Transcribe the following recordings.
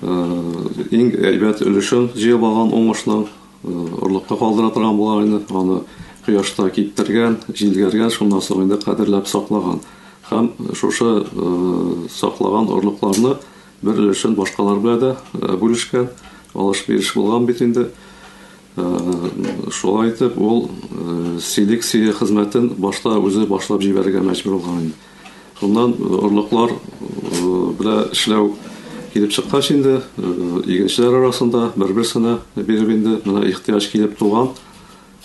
Иң әйбәт өлешен җыеп алган уңышны орлыкка калдыра торган булган инде. Аны кояшта киптергән, җилгәргән, шуннан соң инде кадерләп саклаган. Һәм шушы саклаган орлыкларны бер өлешен башкалар белән дә бүлешкән. Алыш-биреш булган бит инде. Шулай итеп, ул селекция хезмәтен башта үзе башлап җибәрергә мәҗбүр булган. Шуннан орлыклар белән эшләү килеп чыккач инде, игенчеләр арасында бер-берсенә биреп инде менә ихтыяҗ килеп туган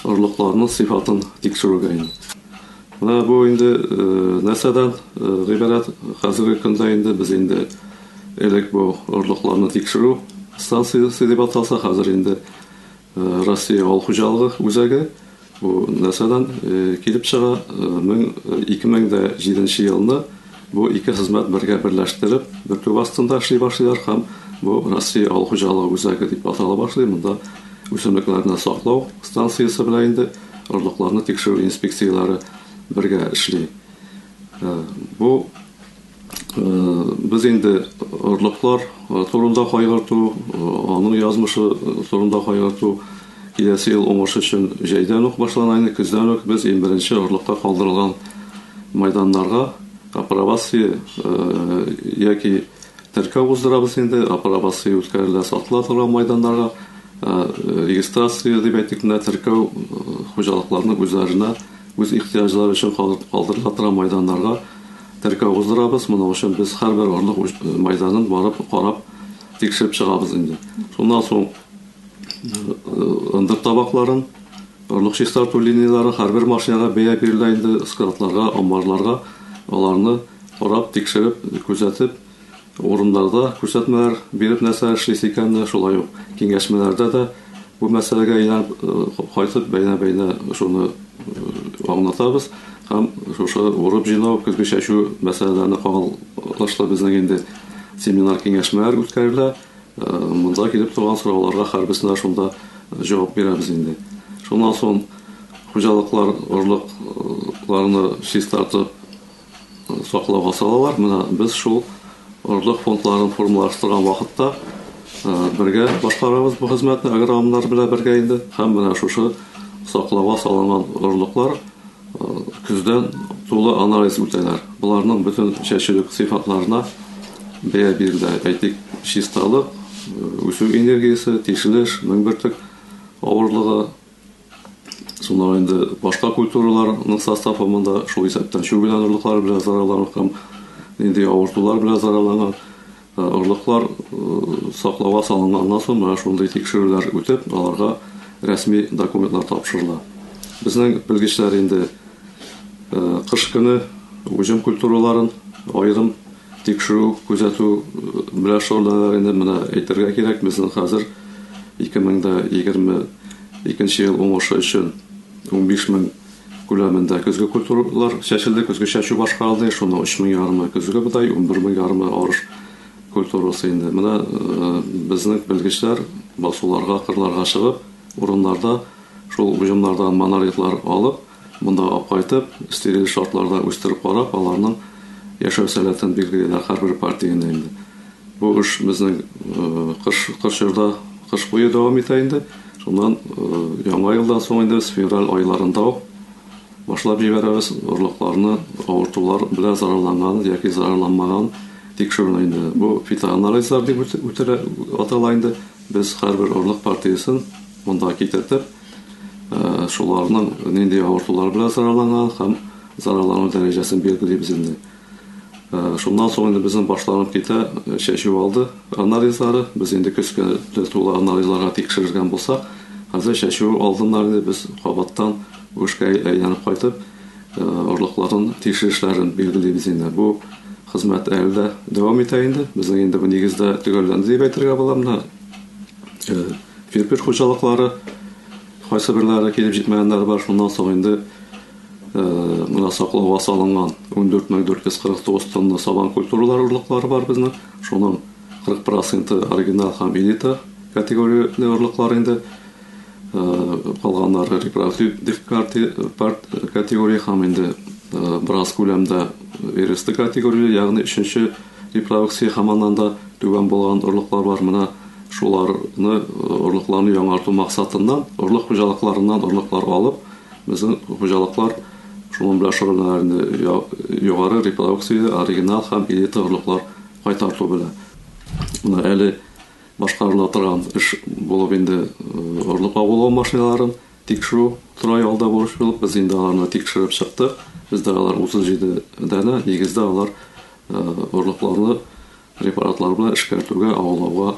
орлыкларның сыйфатын тикшерүгә инде. Менә бу инде нәрсәдән гыйбарәт хәзерге көндә инде без инде элек бу орлыкларны тикшерү станциясе дип аталса, хәзер инде Россия авыл хуҗалыгы үзәге. Бу нәрсәдән килеп чыга? 2007 елны бу ике хезмәт бергә берләштереп, бөркү астында эшли башлыйлар һәм бу Россия авыл хуҗалыгы үзәге дип атала башлый. Монда үсемлекләрне саклау станциясе белән инде орлыкларны тикшерү инспекцияләре бергә эшли. Бу. Без инде орлыклар турында кайгырту, аның язмышы турында кайгырту киләсе ел уңыш өчен җәйдән үк башланайны, көздән үк без иң беренче орлыкка калдырылган майданнарга апробация яки теркәү уздырабыз инде, апробация үткәрелә сатыла торган майданнарга, регистрация дип әйтик менә теркәү хуҗалыкларның үзләренә үз ихтыяҗлары өчен калдырыла торган майданнарга Теркәү уздырабыз, моның өчен без һәрбер орлык мәйданын барып карап, тикшереп чыгабыз инде. Шуннан соң ындыр табакларын, орлык чистарту линияләре һәрбер машинага бәя бирелә инде, складларга, амбарларга аларны карап, тикшереп, күзәтеп, Урыннарда күрсәтмәләр биреп нәрсә эшлисе икәнне, шулай ук киңәшмәләрдә дә бу мәсьәләгә әйләнеп кайтып, бәйнә-бәйнә шуны аңлатабыз һәм шушы урып-җыйнау, көзге чәчү мәсьәләләренә кагылышлы безнең инде семинар-киңәшмәләр үткәрелә. Монда килеп торган сорауларга һәрберсенә шунда җавап бирәбез инде. Шуннан соң хуҗалыклар орлыкларны чистартып, саклауга салалар. Менә без шул орлык фондларын формалаштырган вакытта бергә башкарабыз бу хезмәтне агрономнар белән бергә инде. Һәм менә шушы саклауга салынган орлыклар көздән тулы анализ үтәләр. Боларның бөтен чәчүлек сыйфатларына бәя бирелә. Әйтик, чисталык, үсү энергиясе, тишелеш, мең бөртек авырлыгы, Шунда инде башка культураларның составы монда шул исәптән чүгелән орлыклары белән зарарланган һәм нинди авыртулар белән зарарланган орлыклар саклауга салынганнан соң менә шундый тикшерүләр үтеп, аларга рәсми документлар тапшырыла. Безнең белгечләр инде кыш көне уҗым культураларын аерым тикшерү, күзәтү белән шөгыльләнәләр инде. Менә әйтергә кирәк, безнең хәзер 2020 Икенче ел уңышы өчен унбиш мең күләмендә көзге культуралар чәчелде, көзге чәчү башкарылды, шуның өч мең ярымы көзге бодай, унбер мең ярымы арыш культурасы инде. Менә безнең белгечләр басуларга, кырларга чыгып, урыннарда шул уҗымнардан монолитлар алып, Монда кайтып, стериль шартларда үстереп карап, аларның яшәү сәләтен билгелиләр һәрбер партияне инде. Бу эш безнең кыш кыш чорда, кыш буе дәвам итә инде. Шуннан яңа елдан соң инде без февраль айларында ук башлап җибәрәбез орлыкларны, авыртулар белән зарарланган яки зарарланмаган тикшерүне инде. Бу фитоанализлар дип үтелә атала инде. Без һәрбер орлык партиясен монда китертеп, Шуларның нинди авыртулар белән зарарланган һәм зарарлану дәрәҗәсен билгелибез инде. Шуннан соң инде безнең башланып китә чәчү алды анализлары. Без инде көзгә тулы анализларга тикшергән булсак, хәзер чәчү алдыннан инде без кабаттан үшкә әйләнеп кайтып, орлыкларын тикшерешләрен билгелибез инде. Бу хезмәт әле дә дәвам итә инде. Безнең инде бу нигездә төгәлләнде дип әйтергә була. Менә Кирпеч хуҗалыклары кайсыберләре килеп җитмәгәннәр бар, шуннан соң инде мына саклауга салынган 14449 тонна сабан культуралар орлыклары бар безнең. Шуның 40 проценты оригинал һәм элита категорияле орлыклар инде. Калганнары репродуктив дискард категория һәм инде бераз күләмдә эресты категория, ягъни өченче Репродукция һәм аннан да түбән булган орлыклар бар. Менә шуларны, орлыкларны яңарту максатыннан, орлык хуҗалыкларыннан орлыклар алып, безнең хуҗалыклар шуның белән шөгыльләнәләр инде. Югары репродукцияле, оригинал һәм элита орлыклар кайтарту белән. Менә әле башкарыла торган эш булып инде орлык агулау машиналарын тикшерү тора ялда бурыч булып, без инде аларны тикшереп чыктык. Бездә алар 37 данә, нигездә алар Орлыкларны препаратлар белән эшкәртүгә, аулауга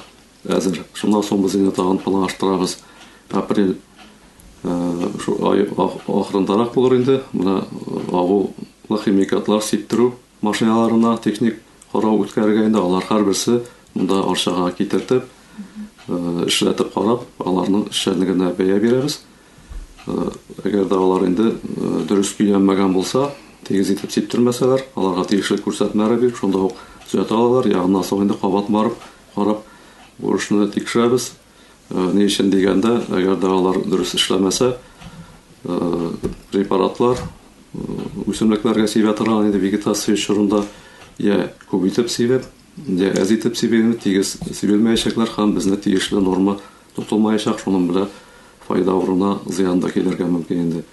әзер. Шуннан соң без инде тагын планлаштырабыз. Апрель ай ахырындарак булыр инде. Менә авыл химикатлар сиптерү машиналарына техник карау үткәрергә инде. Алар һәрберсе монда Арчага китертеп, эшләтеп карап, аларның эшчәнлегенә бәя бирәбез. Әгәр дә алар инде дөрес өйләнмәгән булса, тигез итеп сиптермәсәләр, аларга тиешле күрсәтмәләр биреп, шунда ук төзәтә алалар. Йә аннан соң инде кабат барып, карап, бу эшне тикшерәбез. Ни өчен дигәндә, әгәр дә алар дөрес эшләмәсә, препаратлар үсемлекләргә сибә торган инде вегетация чорында, йә күп итеп сибеп, йә әз итеп сибеп, тигез сибелмәячәкләр һәм безне тиешле норма Тотылмаячак, шуның белән файда урынына зыян да килергә мөмкин инде.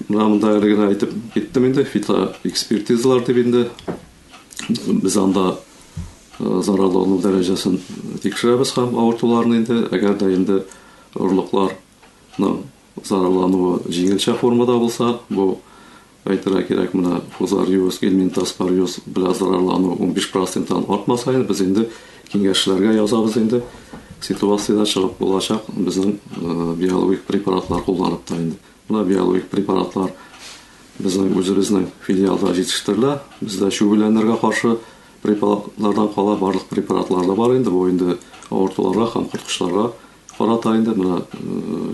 Менә монда әле генә әйтеп киттем инде, фитоэкспертизалар дип инде без анда э, зарарлану дәрәҗәсен тикшерәбез һәм авыртуларны инде, әгәр дә инде орлыклар Ну, зарарлануы җиңелчә формада булса, бу әйтергә кирәк, менә фузариоз, гельминтоз, париоз белән зарарлану 15 проценттан артма саен без инде киңәшчеләргә язабыз инде. Ситуацияда чыгып булачак безнең э, биологик препаратлар кулланып та инде. Менә биологик препаратлар безнең үзебезнең филиалда җитештерелә. Бездә чүгүләнергә каршы препаратлардан кала барлык препаратлар да бар инде. Бу инде авыртуларга һәм корткычларга Карата инде менә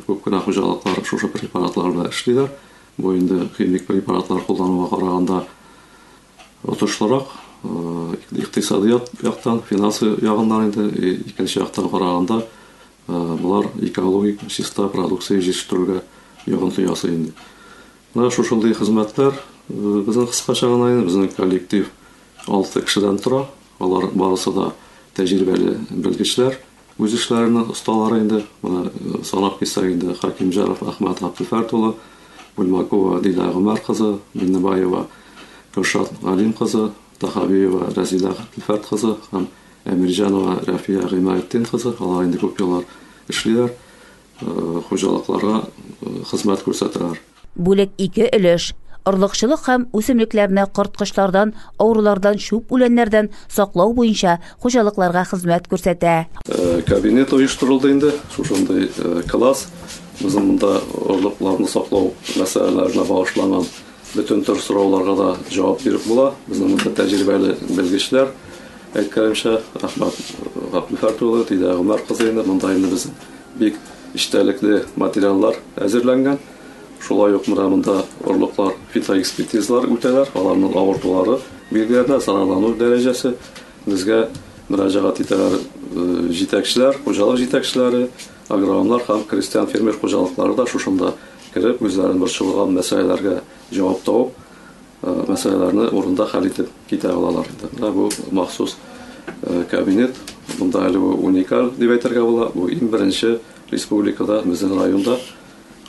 күп кенә хуҗалыклар шушы препаратлар белән эшлиләр. Бу инде химик препаратлар куллануга караганда отышлырак, икътисади яктан, финансы ягыннан инде, икенче яктан караганда, болар экологик чиста продукция җитештерүгә йогынты ясый инде. Менә шушындый хезмәтләр безнең кыскача гына инде безнең коллектив алты кешедән тора. Алар барысы да тәҗрибәле белгечләр. Үз эшләренең осталары инде, моны санап китсәк инде, Хәкимҗаров Әхмәт Габделфәрт улы, Бульбакова Дилә Гомәр кызы, Миннебаева Гөлшат Галим кызы, Тахабиева Рәзилә Габделфәрт кызы һәм Әмирҗанова Рәфия Гыймаетдин кызы, алар инде күп еллар эшлиләр, хуҗалыкларга хезмәт күрсәтәләр. Бүлек ике өлеш, орлыкчылык һәм үсемлекләрне корткычлардан, авырулардан, чүп үләннәрдән саклау буенча хуҗалыкларга хезмәт күрсәтә. Кабинет оештырылды инде, шушындый класс. Безнең монда орлыкларны саклау мәсьәләләренә багышланган бөтен төр сорауларга да җавап биреп була. Безнең монда тәҗрибәле белгечләр, әйткәнемчә, Әхмәт Габделфәрт улы, Дилә Гомәр кызы инде монда инде безнең. Бик эчтәлекле материаллар әзерләнгән. Шулай ук менә монда орлыклар фитоэкспертизалар үтәләр, аларның авыртулары билгеләнә, зарарлану дәрәҗәсе. Безгә мөрәҗәгать итәләр җитәкчеләр, хуҗалык җитәкчеләре, агрономнар һәм крестьян-фермер хуҗалыклары да шушында кереп, үзләрен борчылган мәсьәләләргә җавап табып, Мәсьәләләрне урында хәл итеп китә алалар иде. Менә бу махсус кабинет. Монда әле бу уникаль дип әйтергә була. Бу иң беренче республикада, безнең районда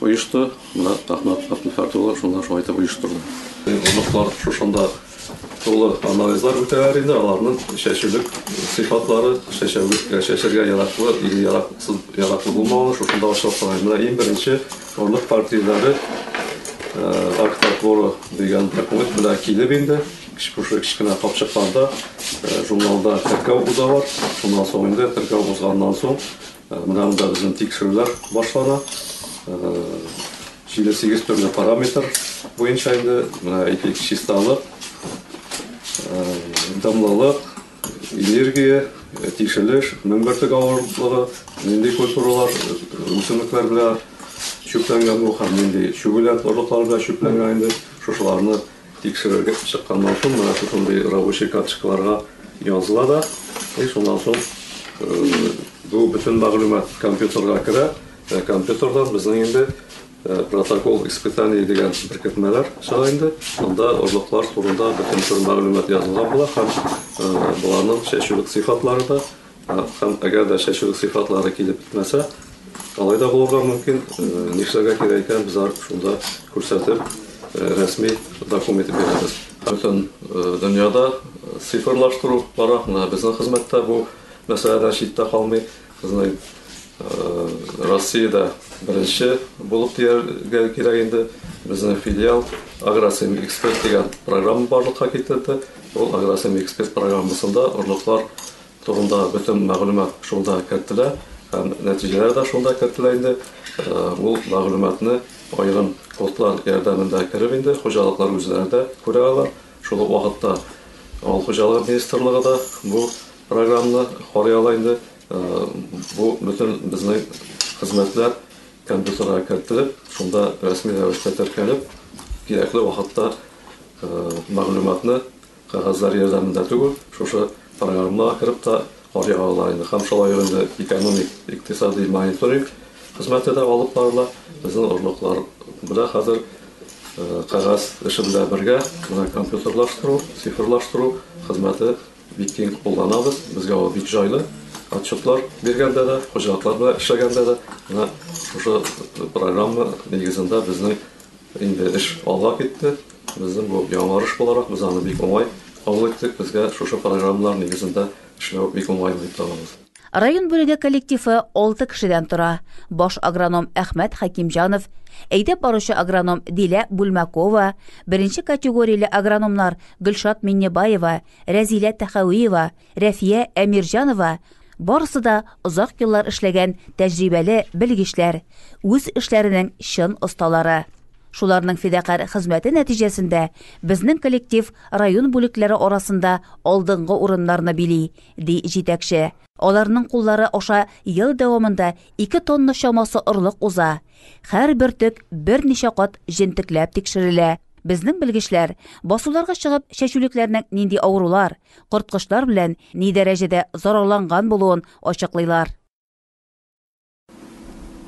оешты. Менә Әхмәт Әптелхәт улы шунда шулай итеп оештырды. Орлыклар шушында тулы анализлар үтәләр инде, аларның чәчүлек сыйфатлары, чәчәргә яраклы или яраклы булмавы шушында ачыклык була. Менә иң беренче Орлык партияләре Арктатворо дигән документ белән килеп инде, шушы кечкенә капчыкларда журналда теркәү уза бар. Шуннан соң инде теркәү узганнан соң менә монда безнең тикшерүләр башлана. 7-8 төрле параметр буенча инде менә әйтик, чисталык, дымлылык, Энергия, тишелеш, мең бөртек авырлыгы, нинди культуралар, үсемлекләр белән чүпләнгән бу һәм нинди чүгүләр, орлыклар белән чүпләнгән инде, шушыларны тикшерергә чыкканнан соң, менә шушындый рабочий карточкаларга языла да, и шуннан соң бу бөтен мәгълүмат компьютерга керә, компьютердан безнең инде Протокол испытаний дигән беркетмәләр чыга инде. Анда орлыклар турында бөтен төр мәгълүмат язылган була һәм боларның чәчүлек сыйфатлары да һәм әгәр дә чәчүлек сыйфатлары килеп бетмәсә, алай да булырга мөмкин, нишләргә кирәк икән, без аны шунда күрсәтеп, рәсми документ итеп бирәбез. Бөтен дөньяда цифрлаштыру бара, менә безнең хезмәттә бу мәсьәләдән читтә калмый. Безнең Россиядә беренче булып дияргә кирәк инде. Безнең филиал Агросем эксперт дигән программа барлыкка китерде. Ул Агросем эксперт программасында орлыклар турында бөтен мәгълүмат шунда кертелә һәм нәтиҗәләр дә шунда кертелә инде. Ул мәгълүматны аерым кодлар ярдәмендә кереп инде хуҗалыклар үзләре дә күрә алар. Шул ук вакытта Авыл хуҗалыгы министрлыгы да бу Програмны карый ала инде. Бу бөтен безнең хезмәтләр компьютерга кертелеп, шунда рәсми рәвештә теркәлеп, кирәкле вакытта мәгълүматны кәгазьләр ярдәмендә түгел, шушы програмнага кереп тә карый алалар инде. Һәм шулай ук инде экономик, икътисади мониторинг хезмәте дә алып барыла. Безнең орлыклар белән хәзер кәгазь эше белән бергә менә компьютерлаштыру, цифрлаштыру хезмәте Бик киң кулланабыз, безгә ул бик җайлы. Отчетлар биргәндә дә, хуҗалыклар белән эшләгәндә дә менә шушы программа нигезендә безнең инде эш алга китте. Безнең бу яңарыш буларак, без аны бик уңай кабул иттек. Безгә шушы программалар нигезендә эшләү бик уңайлы дип табабыз. Район бүлеге коллективы алты кешедән тора, баш агроном Әхмәт Хәкимҗанов, әйдәп баручы агроном Дилә Бүлмәкова, беренче категорияле агрономнар Гөлшат Миннебаева, Рәзилә Тәхәвиева, Рәфия Әмирҗанова, барысы да озак еллар эшләгән тәҗрибәле белгечләр, үз эшләренең чын осталары. Шуларның фидакарь хезмәте нәтиҗәсендә безнең коллектив район бүлекләре арасында алдынгы урыннарны били, ди җитәкче. Аларның куллары аша ел дәвамында ике тонна чамасы орлык уза. Һәрбер төп берничә кат җентекләп тикшерелә. Безнең белгечләр, басуларга чыгып, чәчүлекләрнең нинди авырулар, корткычлар белән ни дәрәҗәдә зарарланган булуын ачыклыйлар.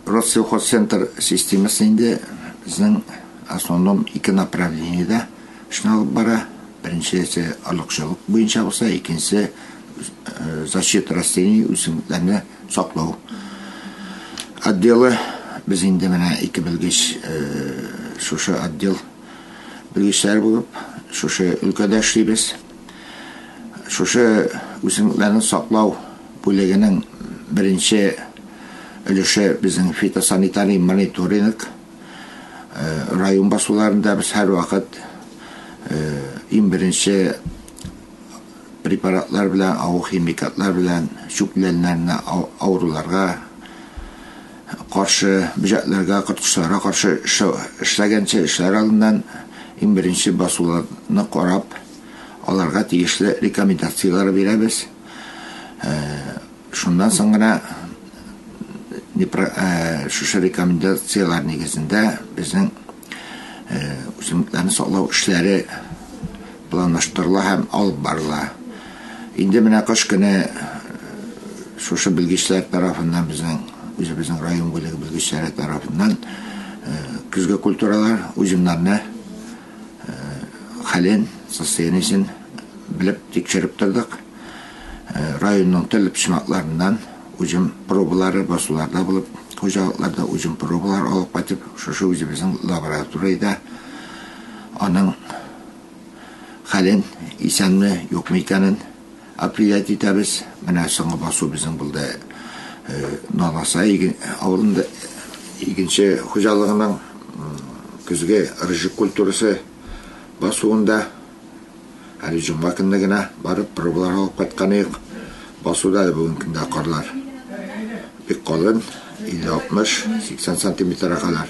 Россельхозцентр системасы инде безнең основном ике направлениедә эшне алып бара. Беренчесе орлыкчылык буенча булса, икенчесе э, защита растений үсемлекләрне саклау отделы. Без инде менә ике белгеч э, шушы отдел белгечләре булып, шушы өлкәдә эшлибез. Шушы үсемлекләрне саклау бүлегенең беренче өлеше безнең фитосанитарий мониторинг. Район басуларында без һәрвакыт иң беренче препаратлар белән, агрохимикатлар белән чүпләннәрне авыруларга каршы, бөҗәкләргә, корткычларга каршы эшләгәнче, эшләр алдыннан иң беренче басуларны карап, аларга тиешле рекомендацияләр бирәбез. Шуннан соң гына шушы рекомендацияләр нигезендә безнең үсемлекләрне саклау эшләре Планлаштырыла һәм алып барыла. Инде менә кыш көне шушы белгечләр тарафыннан, безнең үзебезнең район бүлеге белгечләре тарафыннан көзге культуралар, узимнарны хәлен, состояниесен белеп, тикшереп тордык. Районның төрле почмакларыннан узим пробалары басуларда булып, хуҗалыкларда узим пробалар алып кайтып, шушы үзебезнең лабораториядә аның хәлен, исәнме, юкмы икәнен определять итәбез. Менә соңгы басу безнең булды Наласа авылында игенче хуҗалыгының көзге рыжик культурасы басуында. Әле җомга көнне генә барып пробалар алып кайткан идек. Басуда да бүгенге көндә карлар бик калын, 50-60, 80 сантиметрга кадәр.